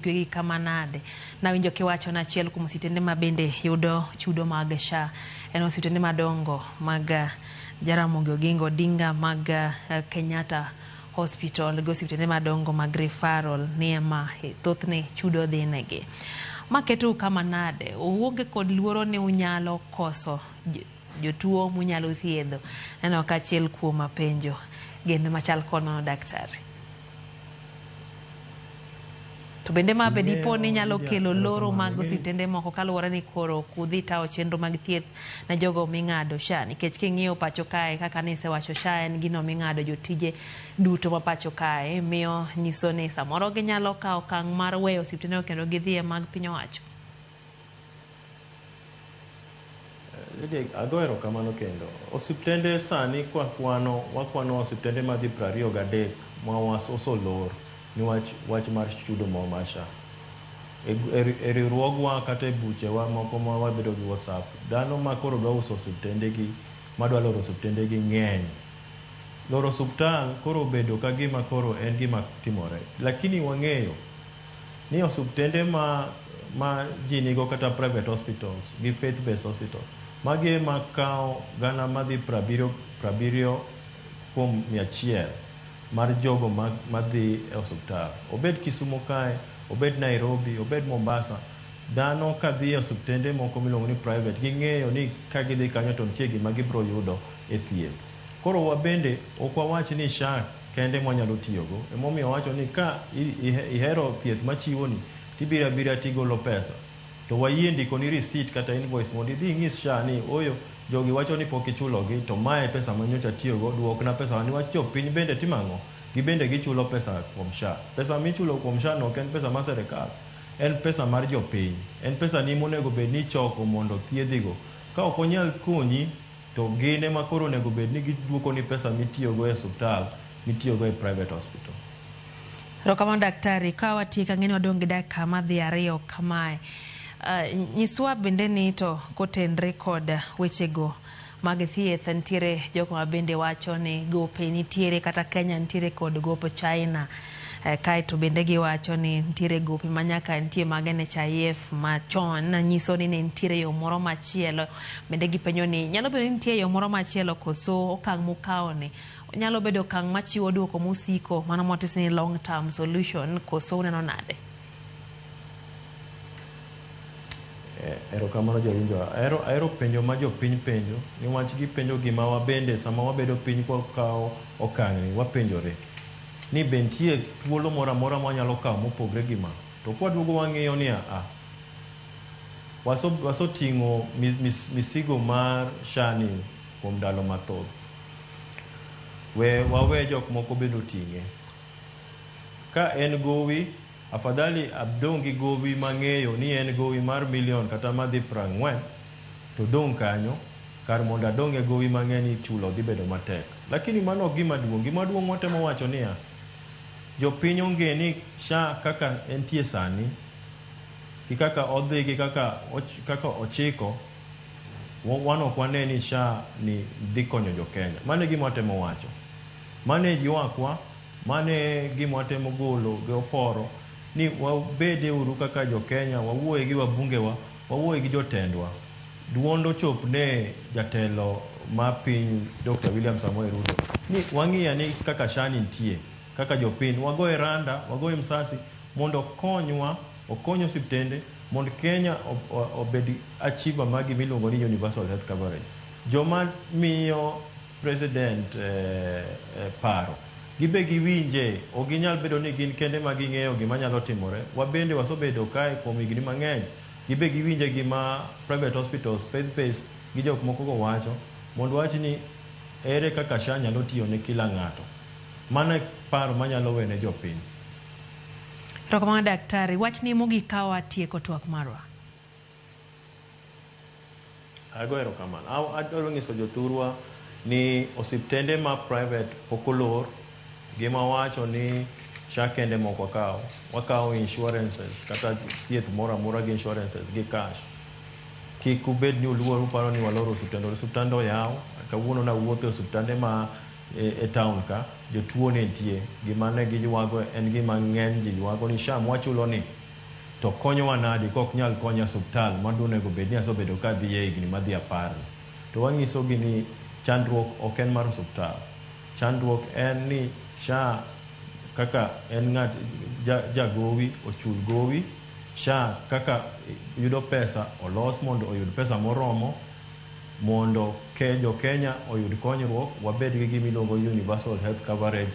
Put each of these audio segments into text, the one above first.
Twegi kama nade? Nawinjo kiwacho ni achiel kuom ositende ma bende yudo chudo mag SHA en ositende madongo mag eh, Jaramogi Oginga Odinga mag eh, Kenyatta Hospital gi osiptende madongo mag referral ni ema eh, thothne chudo dhinegi. Ma ketou kama nade? Uonge kod luoro ni unyalo koso j- jotuo munyalo thiedho? Neno ka achiel kuom mapenjo gin machal kod mano daktari. To bende ma be dipo ni nyalo kelo loro mag osiptende moko kaluwore ni koro ok udhi tawo chenro mag thieth na jogo ming'ado SHA nikech king'iyo pacho kae kaka ni isewacho SHA en gino ming'ado jotije duto ma pacho kae miyo nyiso ni samoro ginyalo kawo okang' mar weyo osiptendego kendo gidhi e mag piny owacho. Lydia, ago erokamano kendo. Osiptende sani kwakwano, wakwano osiptende madhi prariyo gadek ma was osolor niwach wach mar chudo mo mar SHA. E gr e e riwruogwa kata e buchewa moko ma wabedo gi WhatsApp, dhano ma koro dwa uso osiptendegi, ma dwa loro osiptendegi ng'eny. Loro osuptal koro obedo ka gima koro en gima timore. Lakini wang'eyo. ni osuptende ma ma ji nigo kata private hospitals gi faith based hospital magi ema kawo gana madhi prabiriyo prabiriyo kuom mia achiel mar jogo ma madhi e osuptal. Obed Kisumo kae, obed Nairobi, obed Mombasa, dhano ka dhi e osuptende moko miluongo ni private ging'eyo ni ka gidhi kanyo to nitie gima gibiro yudo e thieth. Koro wabende ok wawach ni SHA kende ema wanyalo tiyogo. Ema omiyo owacho ni ka ihero thieth machiwoni to ibiro abira to igolo pesa to wayie ndikoni receipt kata invoice mondo idhi inyis SHA ni ooyo jogi wacho ni pok ichulogi to mae e pesa ma nyocha atiyogo, duokna pesawa niwach jok piny bende timo ang'o? Gin bende gichulo pesa kuom SHA. Pesa ma ichulo kuom SHA no ok en pesa mar sirkal, en pesa mar jopiny. En pesani ema onego bed ni ichoko mondo othiedhigo. Ka ok onyal konyi. To gin ema koro onego bed ni giduokoni pesa mitiyogo e osuptal mitiyogo e private hospital. Erokamano daktari, ka watiek ang'e ni wadong' gi dakika madhi ariyo kamae. Nyiswa bende ni to kotenre kod wechego mag thieth nitiere jogo ma bende wacho ni gope nitiere kata Kenya nitiere kod gop China. Kaeto bende giwacho ni nitiere gope ma nyaka nitie mag NHIF machon nyiso ni ne nitiere yo moro machielo Bende gipenjo ni, nyalo bedo ni nitie yo moro machielo koso okang' mukawoni nyalo bedo okang' machiwo duoko mosiko, mano motis ni long term solution koso uneno nade? Eh, erokamano jawinjo. Ahero, ahero penjo ma jopiny penjo niwach gipenjo gima wabende sama wabedo piny kwa kawo okang'ni wapenjore ni be nitie thuolo moro amora ma wanyalo kawo mopogre gi ma. To kwaduogo wang'iyo ni aa, Waso wasoting'o mis, misigo mar shani kuom ndalo mathoth. We wawe jok moko bende oting'e. Ka en gowi, afadhali adong' gi gowi mang'eyo ni en gowi mar milion kata madhi prang'wen, to dong' kanyo, kar mondo adong' e gowi mang'e ni chulo dhi bedo matek. Lakini mano ok gima duong'. Gima duong' watemo wacho niya, jopiny onge ni SHA kaka entie sani, gi kaka odhi gi kaka kaka ochiko, wan ok wane ni SHA ni dhi konyo jo Kenya. Mano e gima watemo wacho. Mano e yuakwa, mano e gima watemo golo gi oporo ni wabede uru kaka jo Kenya, wawuoye gi wabunge wa, wawuoye gi jotendwa. Duond ochop ne jatelo ma piny Dokta William Samoei Ruto ni wang'i ane kaka SHA ni nitie. kaka jopiny wagoye randa, wagoye msasi mondo okonywa, okony osiptende mond Kenya obed achiever mar gima iluongo ni universal health coverage. Joma miyo President paro gin be giwinje, ok ginyal bedo ni gin kende ema ging'eyo gima nyalo timore. Wabende wasebedo kae kuom higni mang'eny, gin be giwinje gima private hospitals, faith based gi jok mokogo wacho mond wach ni ere kaka SHA nyalo tiyo ne kila ng'ato. Mano e paro manyalo wene jopiny. Erokamano daktari. Wachni mogik kawa tieko twak marwa. Ago erokamano. Aw adwaro ng'iso jothurwa ni osiptende ma private pok olor. Gima wacho ni SHA kende mok wakaw. Wakaw insurances kata thieth moro amora gi insurances gi cash. Kik ubed ni uluor uparo ni waloro osiptende. Osiptande oyaw. Kawuono nawuotho e osiptande ma E taon ka, jotuo ne nitie. Gima ne giywago en gima ng'eny ji ywago ni, Sham wachulo ni, to konyowa nadi kok nyal konya suptal ma donego bed ni asebedo ka adhiye e higni madhi apar ni? To wanyisogi ni chandruok ok en mar osuptal. Chandruok en ni SHA kaka en ng'at ja gowi ochul gowi, SHA kaka yudo pesa olos mondo oyud pesa moromo, Mondo jo Kenya oyud konyruok, wabed gi gima iluongo ni universal health coverage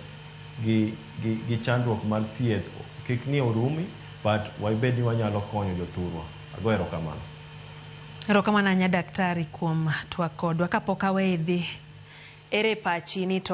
gi gi gi chandruok mar thieth kik ni orumi but wabed ni wanyalo konyo jothurwa. Ago erokamano. Erokamano ahinya Daktari kuom twak kodwa. Kapok aweyi idhi, ere pachi ni to.